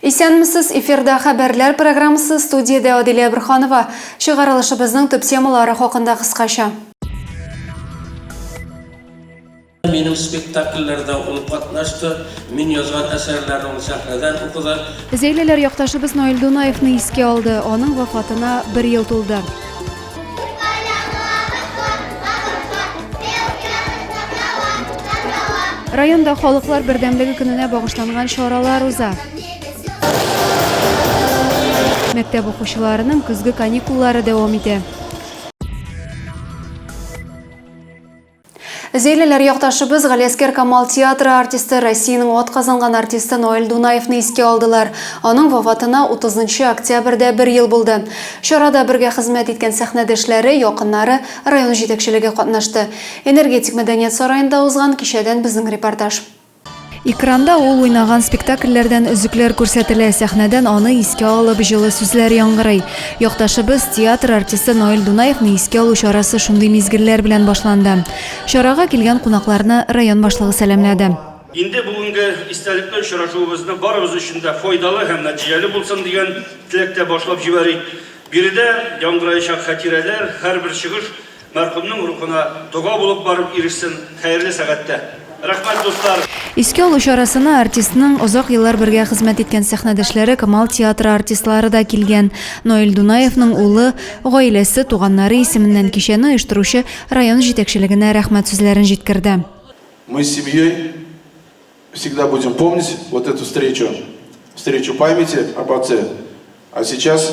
Исәнмесез, эфирда хәбәрләр программасы, студиядә Адилә Бөрханова. Чыгарылышыбызның төп темалары хакында кыскача. Минем спектакльләрдә ул катнашты, мин язган әсәрләрне ул сәхнәдән укыды. Зәйлеләр якташыбыз Наил Дунаевны искә алды, аның вафатына бер ел тулды. Районда халыклар бердәмлеге көненә багышланган чаралар уза. Мәктәп укучыларының көзге каникуллары дәвам итә. Зәйлеләр якташыбыз Галиәскәр Камал театры артисты, Россиянең атказанган артисты Ноэль Дунаевны искә алдылар. Аның вафатына 30 нчы октябрьдә бер ел булды. Чарада бергә хезмәт иткән сәхнәдәшләре, якыннары, район җитәкчелеге катнашты. Энергетик мәдәният сараенда узган кичәдән безнең репортаж. Экранда ул уйнаган спектакльләрдән өзекләр күрсәтелә, сәхнәдән аны искә алып җылы сүзләр яңгырый. Якташыбыз, театр артисты Наил Дунаевны искә алу чарасы шундый мизгелләр белән башланды. Чарага килгән кунакларны район башлыгы сәламләде. Инде бүгенге истәлекле очрашуыбызны барыбыз өчен дә файдалы һәм нәтиҗәле булсын дигән теләктә башлап җибәрик. Биредә яңгыраячак хәтирәләр, һәрбер чыгыш Мәрхүмнең рухына дога булып барып ирешсен хәерле сәгатьтә. Рәхмәт, дуслар! Искә алу чарасына артистның озак еллар бергә хезмәт иткән сәхнәдәшләре Камал театры артистлары да килгән. Наил Дунаевның улы, гаиләсе, туганнары исеменнән кичәне оештыручы район җитәкчелегенә рәхмәт сүзләрен җиткерде. Мы с семьей всегда будем помнить вот эту встречу, встречу памяти об отце. А сейчас.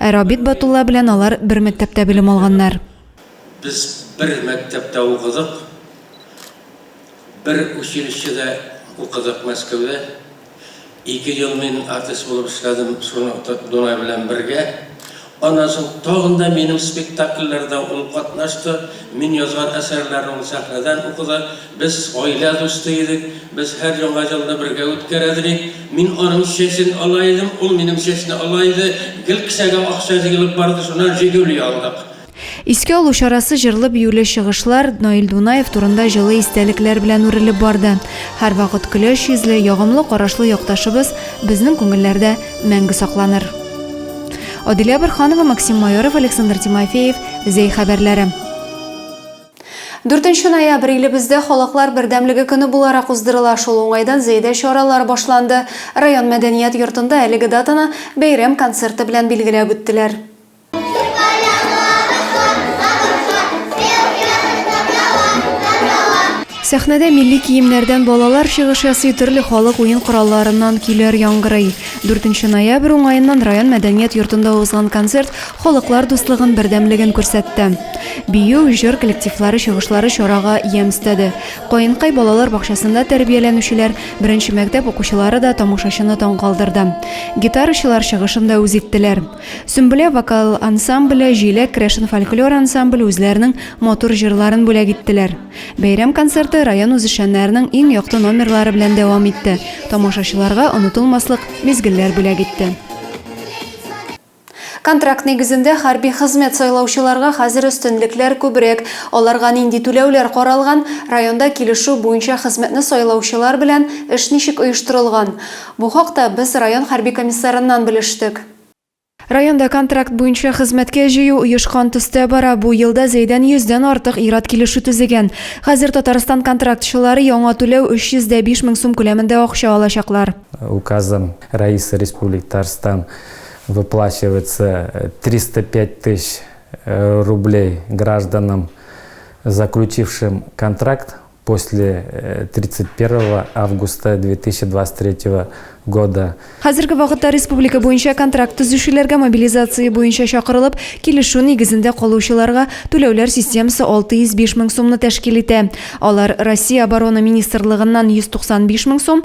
Ә Рабит Батулла белән алар бер мәктәптә белем алганнар. Без бер мәктәптә укыдык, бер училищеда укыдык Мәскәүдә. Ике ел мин артист булып эшләдем Шунат Дунай белән бергә. Аннан соң тагын да минем спектакльләрдә ул катнашты, мин язган әсәрләрне ул сәхнәдән укыды. Без гаилә дусты идек. Без һәр Яңа елны бергә үткәрә дидек. Мин аның чәчен ала идем, ул минем чәчне ала иде. Гел кесәгә акча җыелып барды, шуннан Жигули алдык. Искә алу чарасы җырлы-биюле чыгышлар, Наил Дунаев турында җылы истәлекләр белән үрелеп барды. Һәрвакыт көләч йөзле, ягымлы карашлы якташыбыз безнең күңелләрдә мәңге сакланыр. Адилә Борһанова, Максим Майоров, Александр Тимофеев, Зәй хәбәрләре. Дүртенче ноябрь илебездә Халыклар бердәмлеге көне буларак уздырыла. Шул уңайдан Зәйдә чаралар башланды. Район мәдәният йортында әлеге датаны бәйрәм концерты белән билгеләп үттеләр. Сәхнәдә милли киемнәрдән балалар чыгыш ясый, төрле халык уен коралларыннан көйләр яңгырый. Дүртенче ноябрь уңаеннан район мәдәният йортында узган концерт Халыклар дуслыгын, бердәмлеген күрсәтте. Бию, җыр коллективлары чыгышлары чарага ямь өстәде. Каенкай балалар бакчасында тәрбияләнүчеләр, беренче мәктәп укучылары да тамашачыны таң калдырды. Гитарачылар чыгышын да үз иттеләр. Сөмбелә вокал ансамбле, Җиләк керәшен фольклор ансамбле үзләренең матур җырларын бүләк иттеләр. Бәйрәм концерты район үзешчәннәренең иң якты номерлары белән дәвам итте, тамашачыларга онытылмаслык мизгелләр бүләк итте. Контракт нигезендә хәрби хезмәт сайлаучыларга хәзер өстенлекләр күбрәк. Аларга нинди түләүләр каралган, районда килешү буенча хезмәтне сайлаучылар белән эш ничек оештырылган? Бу хакта без район хәрби комиссарыннан белештек. Районда контракт буенча хезмәткә җыю оешкан төстә бара, бу елда Зәйдән 100 дән артык ир-ат килешү төзегән. Хәзер Татарстан контрактчылары яңа түләү 300 дә 5 мең сум күләмендә акча алачаклар. Указом Рәисе Республик Татарстан Выплачивается 305 тысяч рублей гражданам, заключившим контракт после 31 августа 2023 года. Хәзерге вакытта республика буенча контракт төзүчеләргә мобилизация буенча чакырылып, килешү нигезендә калучыларга түләүләр системасы 605 мең сумны тәшкил итә. Алар Россия Оборона министрлыгыннан 195 мең сум,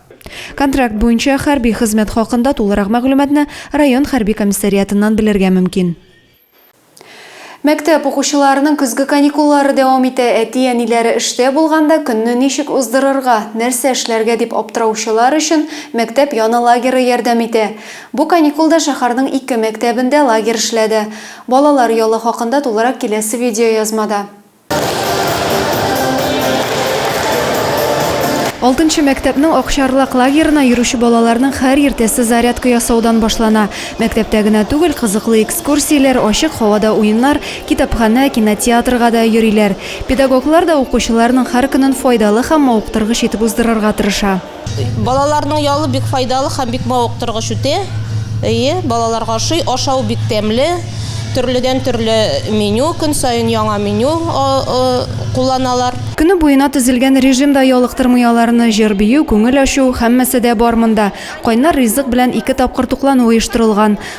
Контракт буенча хәрби хезмәт хакында тулырак мәгълүматны район хәрби комиссариатыннан белергә мөмкин. Мәктәп укучыларының көзге каникуллары дәвам итә. Әти-әниләре эштә булганда, көнне ничек уздырырга, нәрсә эшләргә дип аптыраучылар өчен мәктәп яны лагеры ярдәм итә. Бу каникулда шәһәрнең ике мәктәбендә лагерь эшләде. Балалар ялы хакында тулырак киләсе видеоязмада. Алтынчы мәктәпнең Акчарлак лагерына йөрүче балаларның һәр иртәсе зарядка ясаудан башлана. Мәктәптә генә түгел, кызыклы экскурсияләр, ачык һавада уеннар, китапханә, кинотеатрга да йөриләр. Педагоглар да укучыларның һәр көнен файдалы һәм мавыктыргыч итеп уздырырга тырыша. Балаларның ялы бик файдалы һәм бик мавыктыргыч үтә. Әйе, балаларга ошый. Ашау бик тәмле. Төрледән төрле меню, көн саен яңа меню кулланалар. Көне буена төзелгән режим да ялыктырмый аларны. Җыр-бию, күңел ачу, һәммәсе дә бар монда. Кайнар ризык белән ике тапкыр туклану оештырылган.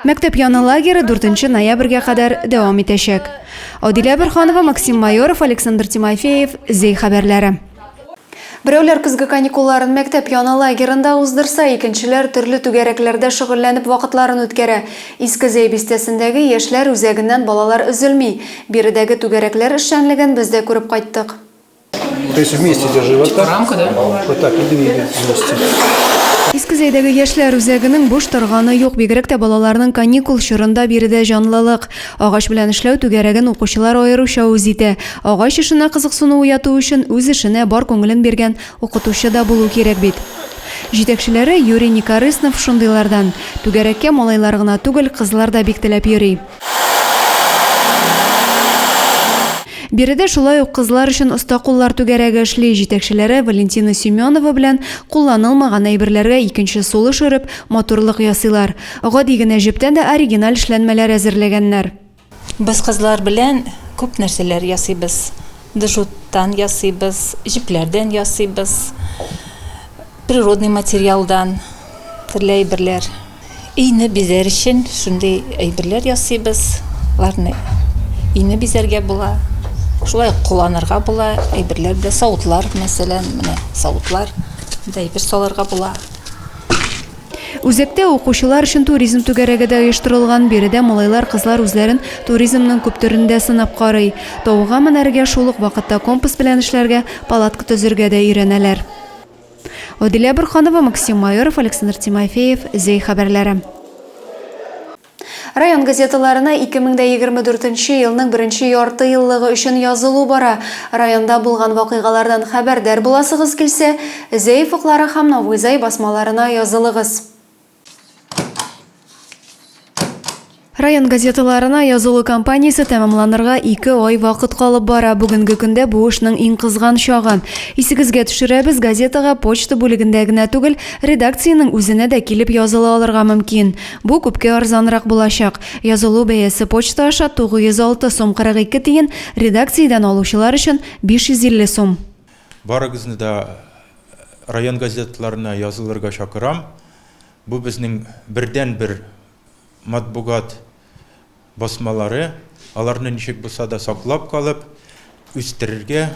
Мәктәп яны лагеры 4 ноябрьгә кадәр дәвам итәчәк. Адилә Бөрханова, Максим Майоров, Александр Тимофеев, Зей хәбәрләре. Берәүләр көзге каникулларын мәктәп яны лагерында уздырса, икенчеләр төрле түгәрәкләрдә шөгыльләнеп вакытларын үткәрә. Иске Зей бистәсендәге яшьләр үзәгеннән балалар өзелми. Биредәге түгәрәкләр эшчәнлеген без дә күреп кайттык. То есть вместе держи вот так. Рамка, да? Вот так и двигай вместе. Иске Зәйдәге яшьләр үзәгенең буш торганы юк, бигрәк тә балаларның каникул чорында биредә җанлылык. Агач белән эшләү түгәрәген укучылар аеруча үз итә. Агач эшенә кызыксыну уяту өчен үз эшенә бар күңелен биргән укытучы да булу кирәк бит. Җитәкчеләре Юрий Никорыснов шундыйлардан. Түгәрәккә малайлар гына түгел, кызлар да бик теләп йөри. Биредә шулай ук кызлар өчен оста куллар түгәрәге эшли, җитәкчеләре Валентина Семенова белән кулланылмаган әйберләргә икенче сулыш өреп, матурлык ясыйлар. Гади генә җептән дә оригиналь эшләнмәләр әзерләгәннәр. Без кызлар белән күп нәрсәләр ясыйбыз. Джуттан ясыйбыз, җепләрдән ясыйбыз. Природный материалдан төрле әйберләр. Өйне бизәр өчен шундый әйберләр ясыйбыз. Аларны өйне бизәргә була. Шулай ук кулланырга була. Әйберләр дә савытлар, мәсәлән, менә савытлар. Монда әйбер салырга була. Үзәктә укучылар өчен туризм түгәрәге дә оештырылган. Биредә малайлар-кызлар үзләрен туризмның күп төрендә сынап карый. Тауга менәргә, шул ук вакытта компас белән эшләргә, палатка төзергә дә өйрәнәләр. Адилә Борханова, Максим Майоров, Александр Тимофеев, Зәй хәбәрләре. Район газеталарына 2024 нче елның беренче ярты еллыгы өчен язылу бара. Районда булган вакыйгалардан хәбәрдар буласыгыз килсә, Зәй офыклары һәм Новый Зәй басмаларына язылыгыз. Район газеталарына язылу кампаниясе тәмамланырга ике ай вакыт калып бара. Бүгенге көндә бу эшнең иң кызган чагы. Исегезгә төшерәбез, газетага почта бүлегендә генә түгел, редакциянең үзенә дә килеп языла алырга мөмкин. Бу күпкә арзанрак булачак. Язылу бәясе почта аша 906 сум 42 тиен, редакциядән алучылар өчен 550 сум. Барыгызны да район газеталарына язылырга чакырам. Бу безнең бердәнбер матбугат басмалары. Аларны ничек булса да саклап калып, үстерергә.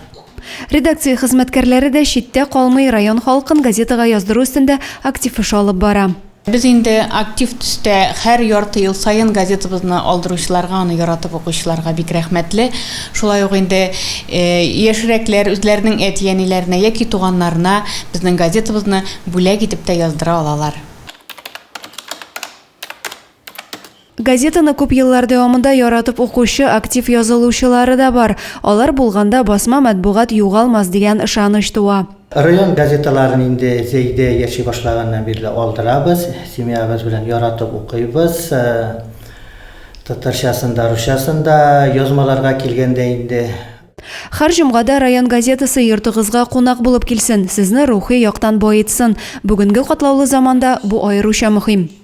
Редакция хезмәткәрләре дә читтә калмый, район халкын газетага яздыру өстендә актив эш алып бара. Без инде актив төстә хәр ярты ел саен газетабызны алдыручыларга, аны яратып укучыларга бик рәхмәтле. Шулай ук инде яшьрәкләр үзләренең әти-әниләренә яки туганнарына безнең газетабызны бүләк итеп тә яздыра алалар. Газетаны күп еллар дәвамында яратып укучы, актив язылучылары да бар. Алар булганда басма матбугат югалмас дигән ышаныч туа. Район газеталарын инде Зәйдә яши башлаганнан бирле алдырабыз. Семьябыз белән яратып укыйбыз. Татарчасын да, русчасын да. Язмаларга килгәндә инде. Хәр җомгада район газетасы йортыгызга кунак булып килсен, сезне рухи яктан баетсын. Бүгенге катлаулы заманда бу аеруча мөһим.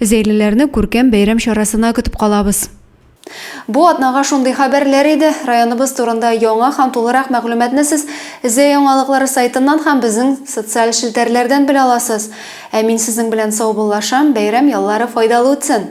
Зәйлеләрне күркәм бәйрәм чарасына көтеп калабыз. Бу атнага шундый хәбәрләр иде. Районыбыз турында яңа һәм тулырак мәгълүматны сез Зәй яңалыклары сайтыннан һәм безнең социаль челтәрләрдән белә аласыз. Ә мин сезнең белән саубуллашам, бәйрәм яллары файдалы үтсен!